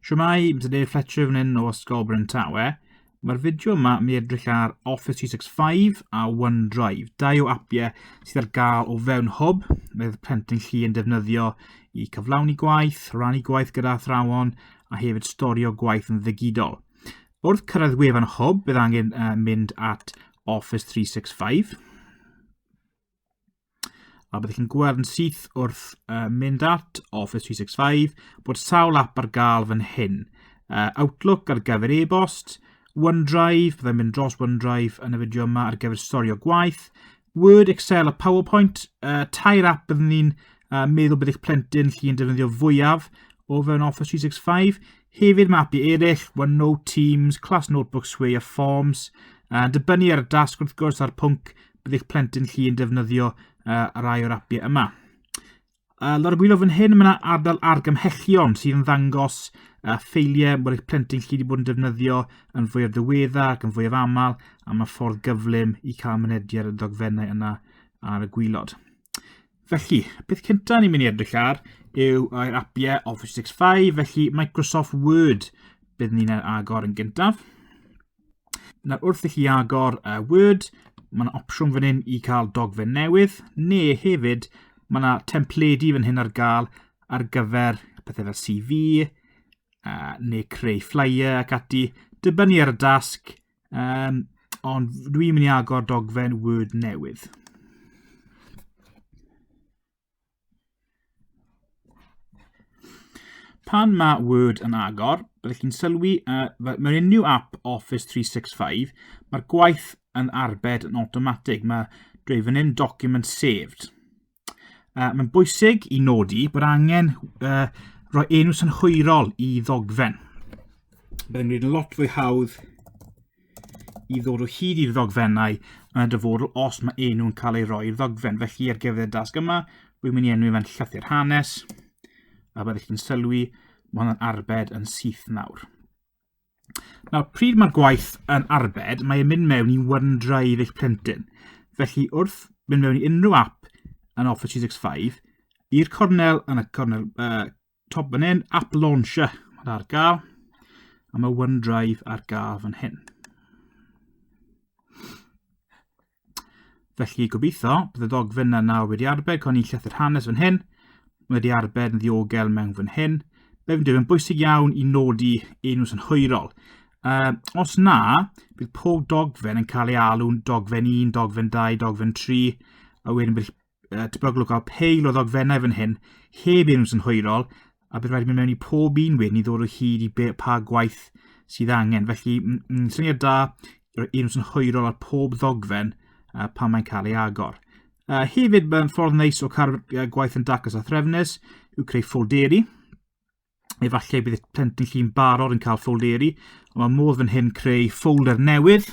Siwmai, Mr Dave Fletcher fan hyn o Ysgol Bryn Tawe. Mae'r fideo yma mi edrych ar Office 365 a OneDrive, dau o apiau sydd ar gael o fewn hwb, mae'r plentyn chi yn defnyddio i cyflawni gwaith, rannu gwaith gyda athrawon a hefyd storio gwaith yn ddigidol. Wrth cyrraedd wefan hwb, bydd angen uh, mynd at Office 365. a byddwch chi'n gweld yn syth wrth uh, mynd at Office 365 bod sawl app ar gael fan hyn. Uh, Outlook ar gyfer e-bost, OneDrive, byddai'n mynd dros OneDrive yn y fideo yma ar gyfer storio gwaith, Word, Excel a PowerPoint, uh, tair app byddwn ni'n uh, meddwl bydd eich plentyn llu'n defnyddio fwyaf o fewn Office 365. Hefyd mae appi eraill, OneNote, Teams, Class Notebook, Sway a Forms, uh, dibynnu ar y dasg wrth gwrs a'r pwnc bydd eich plentyn chi yn defnyddio uh, rai o'r apiau yma. Uh, Lawr y gwylio fan hyn, mae yna ardal argymhellion sydd yn ddangos uh, ffeiliau bod eich plentyn chi wedi bod yn defnyddio yn fwyaf ddiwedda ac yn fwyaf aml a mae ffordd gyflym i cael mynediad y dogfennau yna ar y gwylod. Felly, beth cyntaf ni'n mynd i edrych ar yw yr apiau Office 65, felly Microsoft Word bydd ni'n agor yn gyntaf. Nawr wrth i chi agor y Word, mae yna opsiwn fan hyn i cael dogfen newydd, neu hefyd mae yna templedi fan hyn ar gael ar gyfer pethau fel CV, uh, neu creu flyer ac ati, dibynnu ar y dasg, um, ond dwi'n mynd i agor dogfen Word newydd. Pan mae Word yn agor, byddwch chi'n sylwi uh, mewn unrhyw app Office 365, mae'r gwaith yn arbed yn automatic. Mae dweud fan hyn document saved. Uh, mae'n bwysig i nodi bod angen uh, rhoi enw synhwyrol i ddogfen. Byddai'n gwneud lot fwy hawdd i ddod o hyd i'r ddogfennau yn y dyfodol os mae enw'n cael ei roi i'r ddogfen. Felly ar gyfer y dasg yma, rwy'n mynd i enw fe'n llythyr hanes, a byddwch chi'n sylwi, mae hwnna'n arbed yn syth nawr. Nawr, pryd mae'r gwaith yn arbed, mae'n mynd mewn i OneDrive eich plentyn. Felly, wrth mynd mewn i unrhyw app yn Office 365, i'r cornel yn y cornel uh, Top fan hyn, app launcher mae 'na ar gael. A mae OneDrive ar gael fan hyn. Felly, gobeithio, bydd y ddogfen yna nawr wedi arbed, co'n i'n llethr hanes fan hyn. Mae wedi arbed yn ddiogel mewn fan hyn. Be fi'n dweud, mae'n bwysig iawn i nodi enw sy'n hwyrol. Uh, os na, bydd pob dogfen yn cael ei alw'n dogfen 1, dogfen 2, dogfen 3, a wedyn bydd uh, tebygol o gael peil o ddogfennau fan hyn, heb enw sy'n hwyrol, a bydd rhaid mynd mewn i pob un wedyn i ddod o hyd i be, pa gwaith sydd angen. Felly, mm, syniad da, roi enw sy'n hwyrol ar pob ddogfen uh, pan mae'n cael ei agor. Uh, hefyd, mae'n ffordd neis o cael uh, gwaith yn dacos a threfnus, yw creu ffolderi, efallai bydd y plentyn lli'n barod yn cael ffolderi, ond mae modd fan hyn creu ffolder newydd,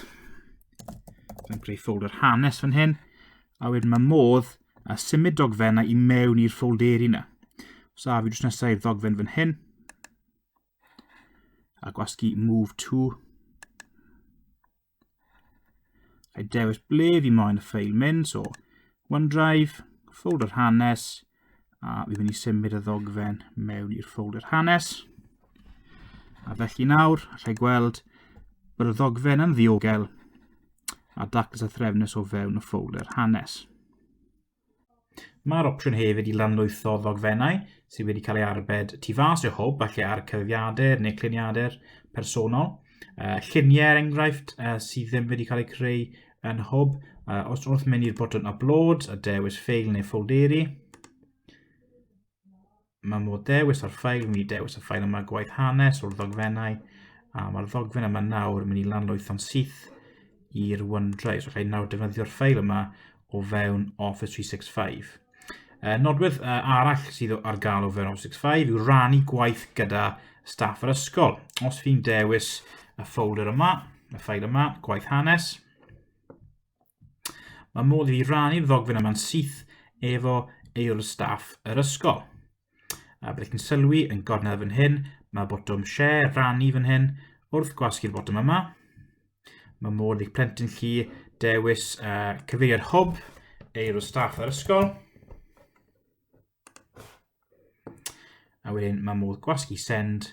yn creu ffolder hanes fan hyn, a wedyn mae modd a symud dogfennau i mewn i'r ffolderi yna. So a fi drws nesau i'r ddogfen fan hyn, a gwasgu move to, Rhaid dewis ble fi moyn y ffeil mynd, so OneDrive, ffolder hanes, a fi mynd i symud y ddogfen mewn i'r ffolder hanes. A felly nawr, allai gweld bod y ddogfen yn ddiogel a daclus a threfnus o fewn y ffolder hanes. Mae'r opsiwn hefyd i lanlwytho ddogfennau sydd wedi cael ei arbed tu fas o hwb, falle ar cyfrifiadur neu cluniadur personol. Uh, lluniau, er enghraifft, uh, sydd ddim wedi cael eu creu yn hwb. Uh, os wrth mynd i'r botwm upload a dewis ffeil neu ffolderi, Mae modd dewis ar ffail, mi dewis y ffail yma gwaith hanes o'r ddogfennau, a mae'r ddogfen yma nawr yn mynd i lanloetho'n syth i'r OneDrive. So, rhaid nawr defnyddio'r ffail yma o fewn Office 365. Uh, nodwedd uh, arall sydd ar gael o fewn Office 365 yw rannu gwaith gyda staff yr ysgol. Os fi'n dewis y ffolder yma, y ffail yma, gwaith hanes, Mae modd i rannu'r ddogfen yma'n syth efo aelod staff yr ysgol. A byddwch chi'n sylwi yn gornel fan hyn, mae botwm share, rannu fan hyn, wrth gwasgu'r botwm yma. Mae modd i'ch plentyn chi dewis uh, cyfeiriad hwb, aelod staff yr ysgol. A wedyn mae modd gwasgu send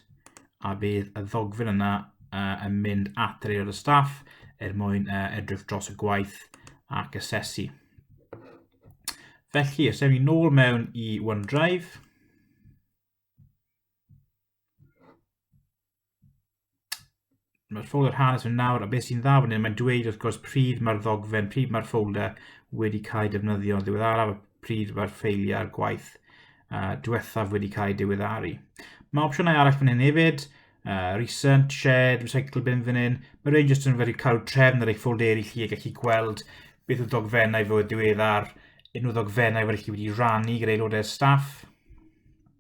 a bydd y ddogfen yna uh, yn mynd at yr aelod o staff er mwyn uh, edrych dros y gwaith ac asesu. Felly, os ewn ni nôl mewn i OneDrive, Mae'r ffolder hanes yn nawr, a beth sy'n dda fan hyn, mae'n dweud wrth gwrs pryd mae'r ddogfen, pryd mae'r ffolder wedi cael ei defnyddio yn ddiweddaraf, pryd mae'r ffeiliau'r gwaith uh, diwethaf wedi cael ei diweddaru. Mae opsiynau arall fan hyn hefyd, uh, recent, shared, recycle bin fan hyn. Mae rhaid jyst yn fawr cael trefn ar eich ffolderi chi a gallu gweld beth yw dogfennau fod diweddar, unrhyw ddogfennau fod chi wedi rannu gyda aelodau staff.